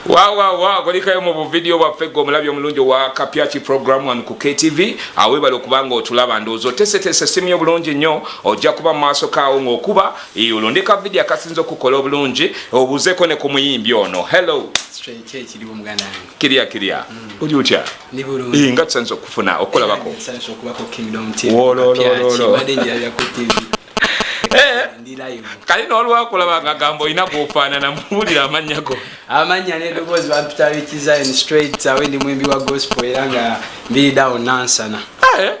wawawa kulikayo mu buvidiyo bwaffe gwe omulabi omulungi owa kapyaki program one ku ktv awebale okubanga otulaba ndowooza otesetese simu yo bulungi nnyo ojja kuba mu maaso kaawo ng'okuba olondeka vidiyo akasinza okukola obulungi obuzeeko ne ku muyimbi ono hello kirya kirya mm. oli otya eh, nga tusanisa okufuna okukolabako eh, kali nolwakulaba nga gamba olina gwofaanana muwulira amannya go amannya nedoboozi bampitabikizain straight awe ndi mwimbi wa gospel era nga mbiridawo nansana eh?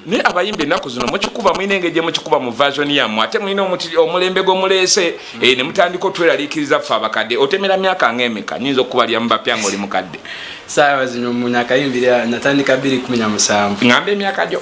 naye abayimba ennaku zino mukikuba mulina engeri gye mukikuba mu vasioni yammwe ate mulina omulembe gwe muleese eh, ne mutandika otweraliikiriza ffe abakadde otemera myaka nga emeka nyinza okukubalira mu bapya nga oli mukadde saawa zino munyakayimbira natandika 217 ngamba emyaka gyo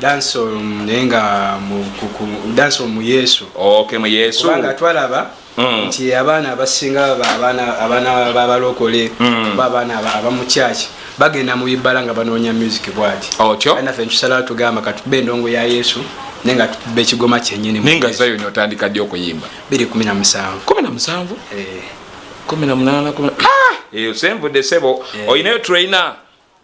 dancehall mm, naye nga dancehall mu yesu okay mu yesu kubanga twalaba mm. nti abaana abasinga abaana babalokole mm. ba abaana abamukyaki bagenda mu ibala nga banoonya music bwati otyo nafe ntusalawo tugamba katube endongo ya yesu naye nga tukuba ekigoma kyenyini naye nga zayo notandika ddi okuyimba biri kumi na musanvu kumi na musanvu eh. kumi na munaana kumi ah! eyo senvudde sebo eh. olinayo trainer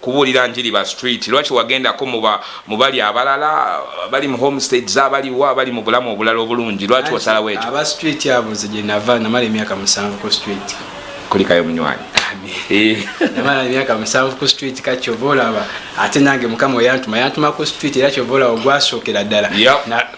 kubuulira njiri ba street lwaki wagendako mubali abalala bali mu homestads abaliwo abali mu bulamu obulala obulungi lwaki wasalawo ekyo aba street abo nze gye nava namala emyaka musanvu ku street kulikayo munywanyi eh. namala emyaka musanvu ku street ka kyova olaba ate nange mukama oyantuma yantuma ku street era kyova olaba ogwasookera ddala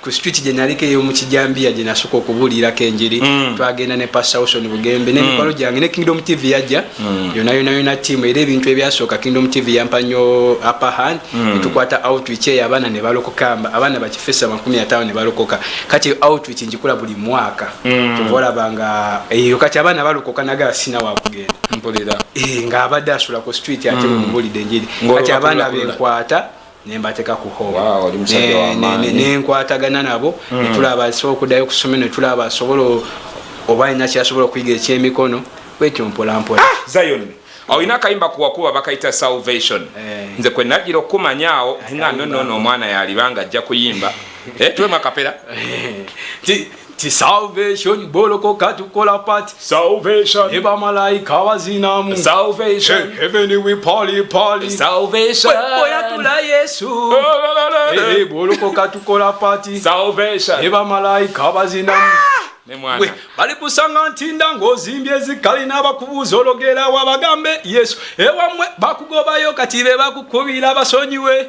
ku street gye naliko ey'omu kijambiya gye nasooka okubuulirako enjiri mm. twagenda ne pastor wilson bugembe n'emikwano mm. gyange ne kingdom tv yajja mm. yona yona yona tiamu era ebintu ebyasooka kingdom tv yampa nnyo upper hand netukwata outreach eyo abaana ne balokokamba abaana bakifesa makumi ataano ne balokoka kati outreach ngikula buli mwaka kyova olaba nga eyo kati abaana balokoka nagala sina wakugenda mpulira eh, ng'abadde asula ku street ate mumubulidde enjiri kati abaana benkwata nembateka ku hall wow, nenkwatagana ne, ne nabo mm. netulaba asobola okudayo okusoma netulaba asobola oba alina kyasobola okuyiga ekyemikono bwetyo mpolampola ah, zion olina akayimba kuwakuba bakayita salvation eh. nze kwe najira okukumanya awo nga nonono omwana yalibanga ajja kuyimba eh, tuwemu akapera eh. ti salvation boloko katukola party salvation eba malaika wazinamu salvation hey, heaven we party party salvation boya tula yesu hey, boloko katukola party salvation eba malaika wazinamu ah! nemwana bali kusanga ntinda ng'ozimbye ezikali n'abakubuuza ologerawo abagambe yesu ewamwe bakugobayo kati be bakukubira basonyiwe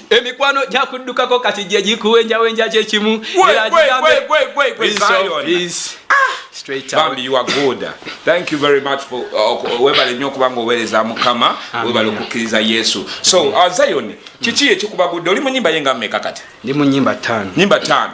emikwano gyakuddukako kati gye gikuwenjawenja kyekimu bambi your good thank you very much for uh, webale nnyo okuba nga oweereza mukama webale okukkiriza yesu so uh, zion kiki ekikubagudde oli mu nyimba ye nga mmeka kati ndi mu nyimba tano nyimba tano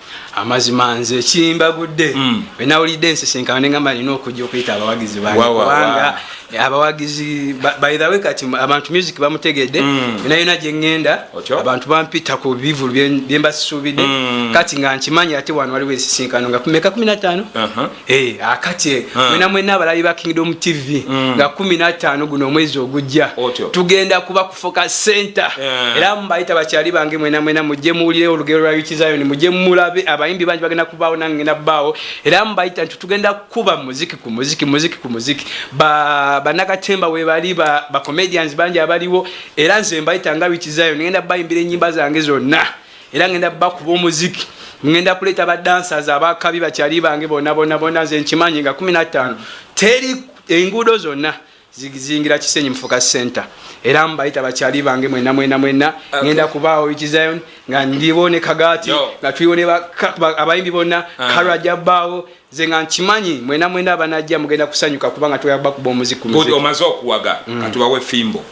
amazima nze ekimbagudde mm. wenawulidde ensisinkano nengamba nina okujja okuyita abawagizi bangekubanga abawagizi bythewe kati abantu music bamutegedde mm. yona yona gyengenda abantu bampita ku bivulu byembasisuubidde mm. kati nga nkimanyi ate wano waliwo ensisinkano nga kumeka kumi natano uh-huh. Hey, eh, akatye hmm. mwena mm. mwena abalabi ba kingdom tv mm. nga kumi nataano guno omwezi ogujja tugenda kuba kufoka center yeah. era mubayita bakyali bange mwena mwena mujje muwulire olugero lwa yukizayoni mujje mulabe abayimbi bangi bagenda kubaawo nange ngenda baawo era mubayita nti tugenda kukuba muziki ku muziki muziki ku muziki banakatemba ba webali bacomedians ba bangi abaliwo era nze mbayita nga yukizayoni ngenda bayimbira enyimba zange zonna era ngenda bakuba omuziki ngenda kuleeta badansas abakabi bakyali bange bonabonabona nze nkimanyi nga 15 teri enguudo zonna zizingira kisenyi mufuka center era mbayita bakyali bange mwena mwena mwena ngenda kubaawo ikizion nga ndiwo ne kagati nga tuliwo abayimbi bonna ah. karaja baawo nze nga nkimanyi mwena mwena abanajja mugenda kusanyuka kubanga tugenda kubakuba omuzi ku muziki omaze okuwaga mm. katubawe fimbo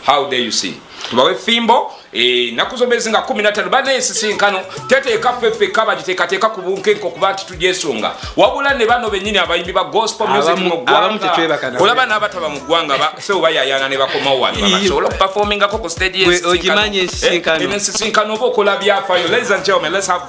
how dare you see tubawe fimbo eh, naku zomezi nga kumi natano bana ensisinkano teteeka fefeka bagiteekateeka ku bunkenke okuba nti tugyesunga wabula ne bano benyini abayimbi ba gospel music mu ggwanga olaba n'abataba mu ggwanga sewo bayayana ne bakomawo wano babasobola okupafoomingako ku stage ensisinkano eh, oba okola byafayo ladies and gentlemen let's have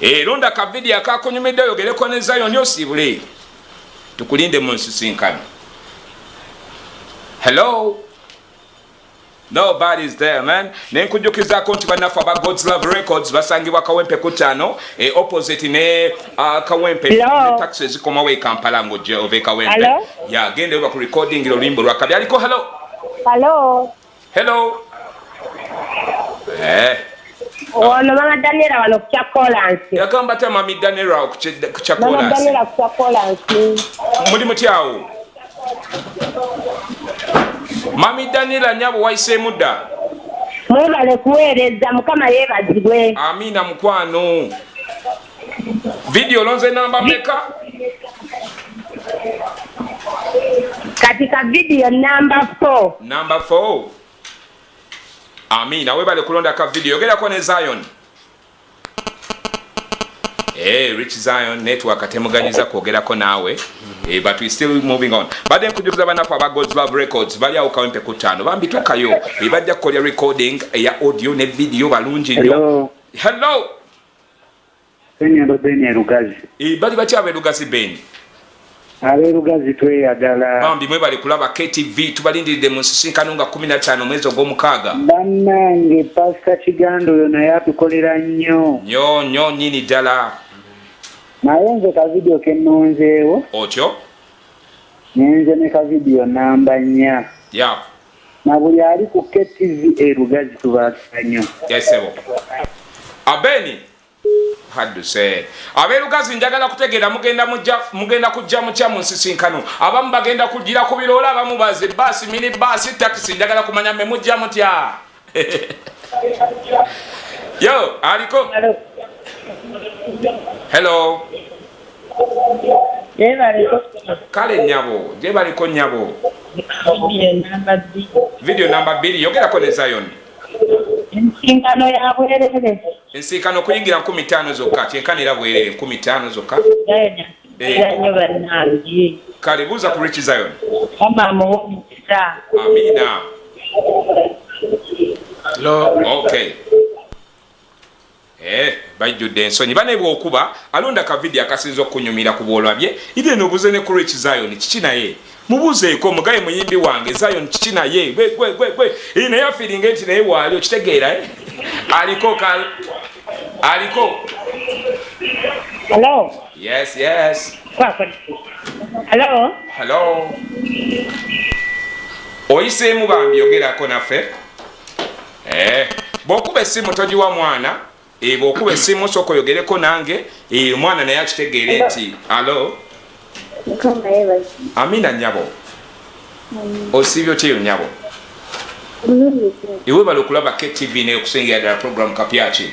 Eh, londa ka video akakunyumidde oyogereko ne zayoni osiibule tukulinde mu nsisinkano hello nobody's there man nenkujukizako nti banaffe aba gods love records basangibwa kawempe ku tano e eh, opposite ne uh, kawempe ne taxi ezikomawo e kampala ngojja ova e kawempe yagenda oba ku recording oluyimbo lwakabi aliko hello hello Hello. Eh. Ono mama Daniela wano ku kyakolansi. Yagamba ta mami Daniela ku kyakolansi. Mama Daniela ku kyakolansi. Muli mutyawo. Mami Daniela nyabo wayiseemu dda. Mwebale kuweereza mukama yeebazibwe. Amiina mukwano. Video lonze namba meka? Kati ka video namba 4. Namba 4. Amina, webale kulonda ka video. Yogera kwa ne Zion. Hey, eh, Rich Zion network atemuganyiza kwogerako naawe hey, eh, but we still moving on badde nkujukiza banaku aba God's Love Records bali awo kawempe ku ttaano bambi tukayo hey, eh, bajja kukolya recording eya audio ne video balungi nnyo hello, hello. Enyendo Ben e Lugazi. Ii bali batya abe Lugazi Ben? Abe Lugazi tweyagala. Bambi mwebale kulaba KTV tubalindiridde mu nsisinkano nga kumi na ttaano omwezi ogw'omukaaga. Bannange Pastor Kiganda oyo naye atukolera nnyo. Nnyo nnyo nnyini ddala. Naye nze ka video ke nnonzeewo. Otyo? Nze ne ka video nnamba nnya. Yep. Na buli ali ku KTV e Lugazi tubaagala nnyo. Yes ssebo. Abeni hadduse. Ab'e Lugazi njagala kutegeera mugenda mujja mugenda kujja mutya mu nsisinkano. Abamu bagenda kujjira ku biroola, abamu baze bbaasi, mini bbaasi, takisi njagala kumanya mmwe mujja mutya. Yo, aliko. Hello. Kale nyabo, je baliko nyabo. Video namba 2, yogera ko ne Zion. Ensinkano ya bwerere. Ensinkano kuyingira 15 zokka, kyenkanira bwerere 15 zokka. kale buuza ku rich zion amina okay Eh, bajjudde ensonyi bane bwokuba alonda kavidiyo akasinza okunyumira ku bwolabye ite nobuze ne kurich zion kiki naye Mubuzeeko mugaye muyimbi wange Zion kiki naye gwe gwe gwe gwe ee naye afiringa enti naye waali okitegeera eh aliko ka aliko hello yes yes kwako hello hello oyiseemu bambi yogerako naffe eh bwokuba essimu togiwa mwana Eeh bwokuba esimu soko yogereko nange eeh omwana naye akitegeere nti alo amina nyabo osiibye otya eyo nyabo iwe bala okulaba ktv naye okusengera ddala program kapyaki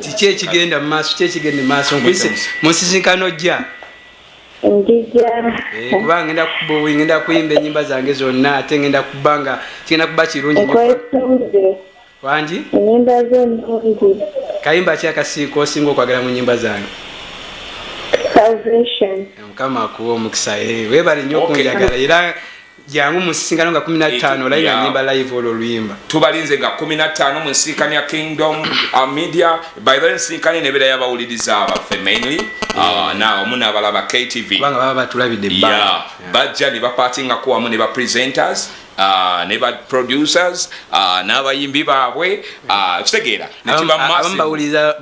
kiki ekigenda mu maaso kiki ekigenda mu maaso nkuyise mu nsisinkano jja ndija eh, kuba ngenda ngenda kuyimba enyimba zange zonna ate ngenda kuba nga kigenda kuba kirungi wangi enyimba zo nungi kayimba ki akasiiko osinga okwagala mu nyimba zange eh, mukama akuwa omukisa eh, webale nnyo okunjagala era jangu musisinkano nga kumi nattaano olayi nga nyimba live olwo oluyimba tubalinze nga kumi nattaano mu nsinkano ya kingdom uh, media by the nsinkano enebeera yabawuliriza abaffe mainly uh, na omu nabalaba ktv kubanga baba batulabidde yeah. bajja ne bapatingako wamu ne ba presenters uh, ne ba producers uh, n'abayimbi baabwe uh, kitegeera nekibamubawuliza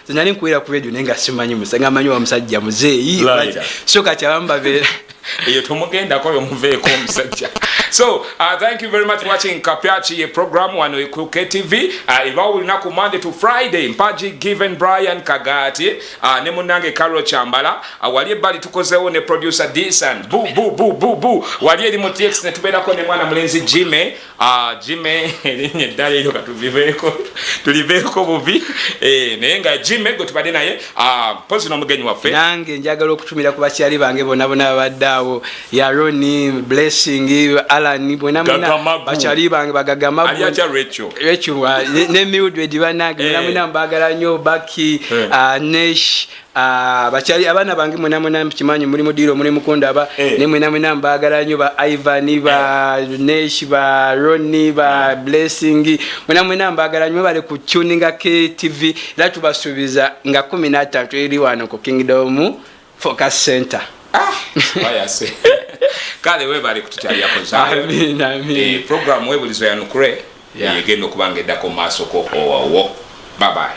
zenali nkuwera ku radio naye nga simanyi musa nga manyi wa musajja muzeeyi so kati abamu babeera eyo tomugendako oyo muveeko omusajja so uh, thank you very much watching kapyaki ye program wano ku ktv uh, ebawo olunaku monday to friday mpaji given brian kagati uh, ne munange carol chambala uh, wali ebbali tukozewo ne producer dsan bu bu bu bu bu wali eri mu tx netubeerako ne mwana mulenzi jime Ah, jime erinnya eddala eryo katuliveeko tuliveeko bubi eh, naye nga jime gwe tubadde naye ah, mpozi n'omugenyi waffe nange njagala okutumira ku bakyali bange bona bona babadde awo yaroni blessing alan bona bakyali bange bagagamarecho ah, ne mildred banange bona eh. muna mbagala nnyo baki eh. nesh Ah, bakyali abaana bange mwena mwena mkimanyi muli mudiiro muli mukundaba eh. naye mwena mwena mbagala nyo ba ivan ba eh. nesh ba roni ba eh. blessing mwena mwena mbagala nyo bale ku tuninga ktv era tubasuubiza nga kumi natantu eri wano ku kingdom focus center ah, kale webale kututyaliyakozaprogramu webulizo yanukure egenda okubanga eddako mu maasoko owawo babaye